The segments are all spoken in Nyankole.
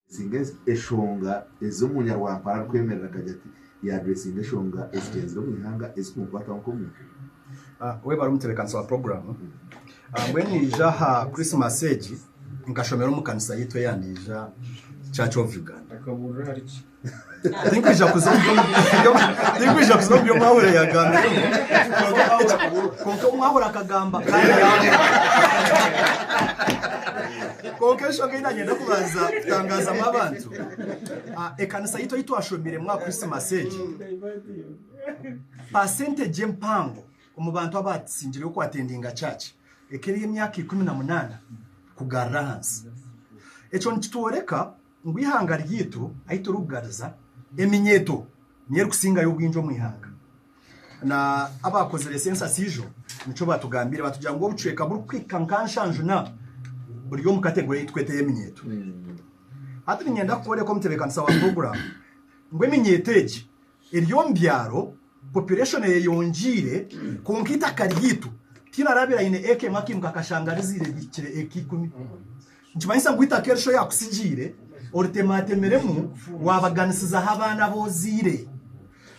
Addressinga eshonga ez'omu Nyarwampara arikwemerera akagira ati, Yaddressinga eshonga ezigyenzire omu ihanga ezikumukwataho nk'omuntu. Webare omutebeekanisa wa puroguraamu. Mbwenu naija aha Christmas egi nkashomera omu kanisa yaitu eya Ndiija Church of Uganda. Tinkwija kuza omu tinkwija kuza omu bi omwahura yagambire kwonka omwahura akagamba kandi kwonka enshonga ei nanyenda kubanza kutangazamu abantu ah, ekanisa yitu ei twashomiremu aha krisimasi egi pasentegye empango omu bantu abaatsingireyo kwatendinga kyaki ekeri emyaka ikumi na munaana kugarira ahansi ekyo nikitworeka ngu eihanga ryaitu ahu turikugariza eminyeeto niyo erikusingayo obwingi omu ihanga. Na abaakozire sensasi ijo nikyo baatugambiire baatugira ngu obucweka burikuhika nka nshanju na buri omu kategori ei turikweta ey'eminyeeto. Hati niinyenda kukworeka omutebeekanisa wa puroguraamu ngu eminyeeto egi, Eri omu byaro, population eyeyongyeire kwonka eitaka ryaitu tihaine araabaire aine acre emwe akaimuka akashanga rizaire rihikire acre ikumi. Nikimanyisa ngu eitaka eri shi oyaakutsigiire oritematemiremu waabaganisizaho abaana abu ozaire.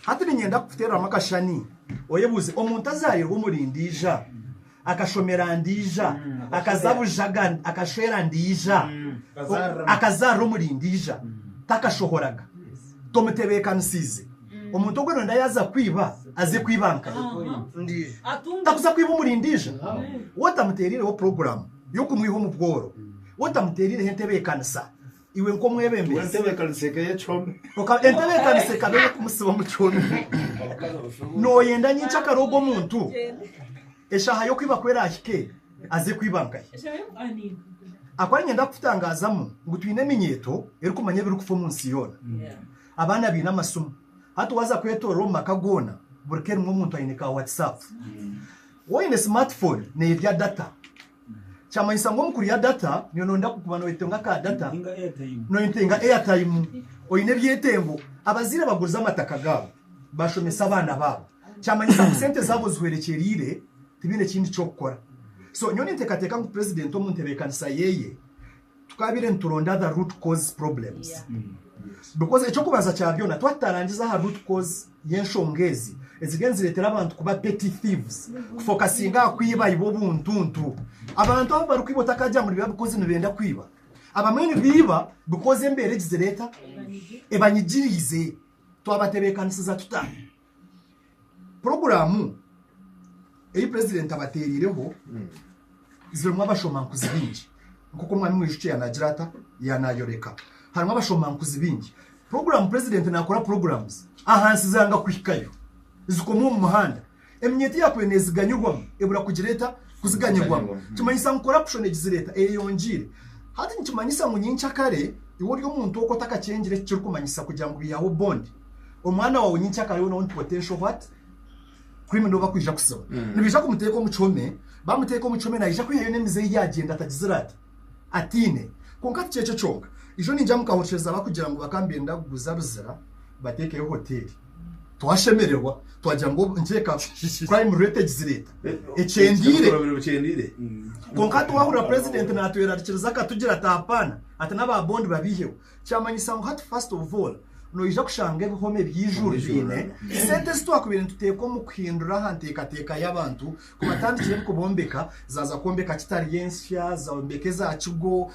Hati niinyenda kukuteereramu akashushani oyebuuze, omuntu azaarirwe omuri Ndiija, Akashomera ndiija, akaza bujaga akashwera ndiija, akazaarira omuri ndiija, takashohoraga. Tomutebeekanisiize. Omuntu ogwo nooyenda yaaza kwiba, aze kwiba nkaye. Takuza kwiba omuri ndiija. Waaba otamuteeriireho puroguraamu y'okumwiha omu bworo, waaba otamuteeriireho entebeekanisa, Iwe nk'omwebembezi. Entebeekanisa eka ey'ekihome. Entebeekanisa ekaba ey'okumusiba omu kihome. Nooyenda nyinkya kare ogwo omuntu eshaaha y'okwiba ku eraahike aze kwiba nkahi? Ahakuba niinyenda kukutangaazamu ngu twine eminyeeto erikumanya ebirikufa omu nsi yoona. Abaana baine amasimu. Hati waaza kwetoorora omu maka goona, buri ka erimu omuntu aine ka Whatsapp. Waaba oine smartphone neerya data. Kyamanyisa ngu omu kurya data niyo noyenda kukuba noyetenga ka data noyetenga airtime oyine ebyetengo. Abazaire abagurize amataka gaabo bashomese abaana baabo kyamanyisa ngu sente zaabo zihwerekyerire tibaine ekindi kyokukora. So nyowe nintekateka ngu president omu ntebekanisa yeeye, Tukabaire nituronda the root cause problems because eky'okubanza kya byona twaba tutarangiza aha root cause y'enshonga ezi eziriyo nizireetera abantu kuba petty thieves, kufokasinga aha kwiba ibo obuntuntu. Abantu abu barikwiba otakaagira ngu nibiba because nibenda kwiba. Abamwe nibiiba because embeera egi zireeta ebanyigiriize. Twabatebeekanisiza tuta? Puroguraamu ei purezidenti abateereireho zirimu abashomankuzi baingi nk'oku omwami mwijukye yaanaagira ata yaanaayoreka harimu abashomankuzi baingi puroguraamu purezidenti naakora puroguraamu ahansi zanga kuhikayo zikoma omu muhanda eminyeeto yaakubaire neeziganyirwamu ebura kugira eta kuziganyirwamu mm. kimanyisa ngu korapushoni egizireeta eyeyongiire hati nikimanyisa ngu nyenkya kare iwe ori omuntu oku otakakyengire eki kirikumanyisa kugira ngu bihaho bondi omwana wawe nyinkya akaba ariwe n'ondi potential what criminal obu bakwija kusiba Mm. nibaija kumuteeka omu kihome bamuteeka omu kihome naija kwihayo n'emize ei yaagyenda atagizire ati atiine kwonka tikyekyo kyonka ijo niija mu kahokyeza bakugira ngu bakaba nibenda kuguza Luzira bateekeyo hoteeri twashemererwa twagira ngu obu- nikireka crime rate egizireta ekyendiire Ekikorobero kyendiire kwonka twahurira president natwerarikiriza akatugira ati hapana ati n'aba bond babiiheho Kyamanyisa ngu hati first of all noija kushanga ebihome by'eijuru biine sente ezi twakubaire nituteeka omu kuhindura aha nteekateeka y'abantu kubatandikira ebikubombeka zaaza kwombeka kitari ensya zombeka eza kigo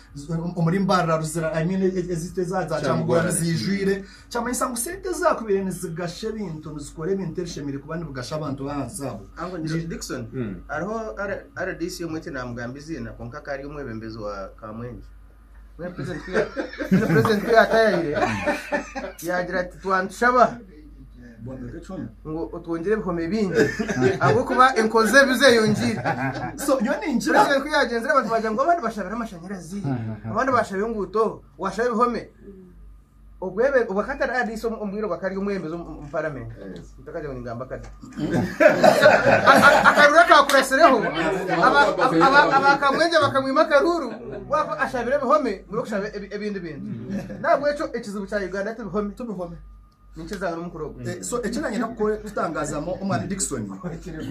omuri mbarara ruzira I mean eziitu eza za kyamugora niziijwire kyamanyisa ngu sente ezi zaakubaire nizigasha ebintu nizikora ebintu ebishemereire kuba nibigasha abantu b'ahansi abo Angu ngira uti Dickson, hariho R- RDC omwe tinaamugambe eiziina kwonka akaba ari omwebembezi wa Kamwenje. Mbwenu purezidenti ku ya- mbwenu purezidenti ku yaataayaire yaagira ati twanitushaba Bombeka ekihomi. ngu otwongyere ebihome bingi ahabw'okuba enkozi z'ebibi zeeyongiire So, nyowe ninkira. purezidenti ku yaagyenzire abantu baagira ngu abandi bashabire amashanyarazi abandi baashabire enguuto waashaba ebihome Obwebe obwa Qatar Airways omu bwire obwa kari omwebembezi omu Paramenti ntakagire ngu ningamba akade. Akaruuru akaakuratsireho aba Kamwenje bakamwima akaruuru kuba ashabire ebihome mbwenu okushaba ebindi bintu. N'ahabw'ekyo ekizibu kya Uganda ti bihome, ninkirizaanga n'omu mukura ogu. So eki naanyenda kutangaazamu omwaani Dickson,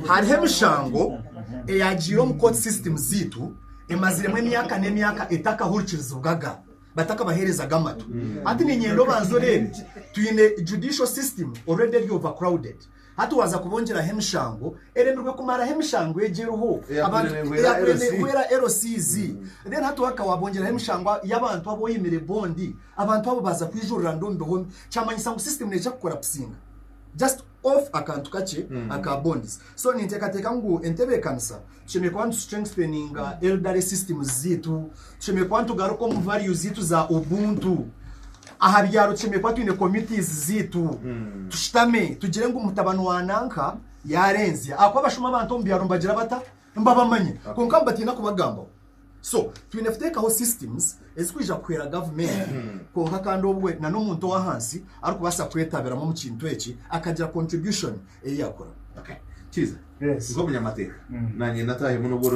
hariho emishango eyaagiire omu Court System zaitu emaziremu emyaka n'emyaka etakahurikirizibwaga. batakabaherezaga amatu. Hati ninyenda obanze oreebe, twine judicial system already eri over crowded. Hati waza kubongyeraho emishango, eremirwe kumaraho emishango egi eriho. Abantu, eyakurenehwera LCZ. Then hati waka wabongyeraho emishango yabantu abu oyimire bond, abantu abo baza kwijurira nda omu bihomi. Kyamanyisa ngu system nekya kukora pusinga. Just. of akantu kakye aka bonds. So ninteekateeka ngu entebeekanisa tushemereire kuba nitu-strengtheninga elderly systems zaitu, tushemereire kuba nitugaruka omu values zaitu za Ubuntu. Aha byaro tushemereire kuba twine committees zaitu, tushutame tugire ngu mutabani wa nanka yaarenzya. Ahakuba abashuma abantu omu byaro nibagira bata? Mbabamanya kwonka mbatiina kubagambaho so twine kuteekaho systems ezikwija kuhwera gavumenti kwonka kandi obwe na n'omuntu ow'ahansi arikubaasa kwetabiramu omu kintu eki akagira contribution ei yakora. Okay. Kiiza. Yes. Nk'omunyamateeka. Nanye natahemu n'obworo.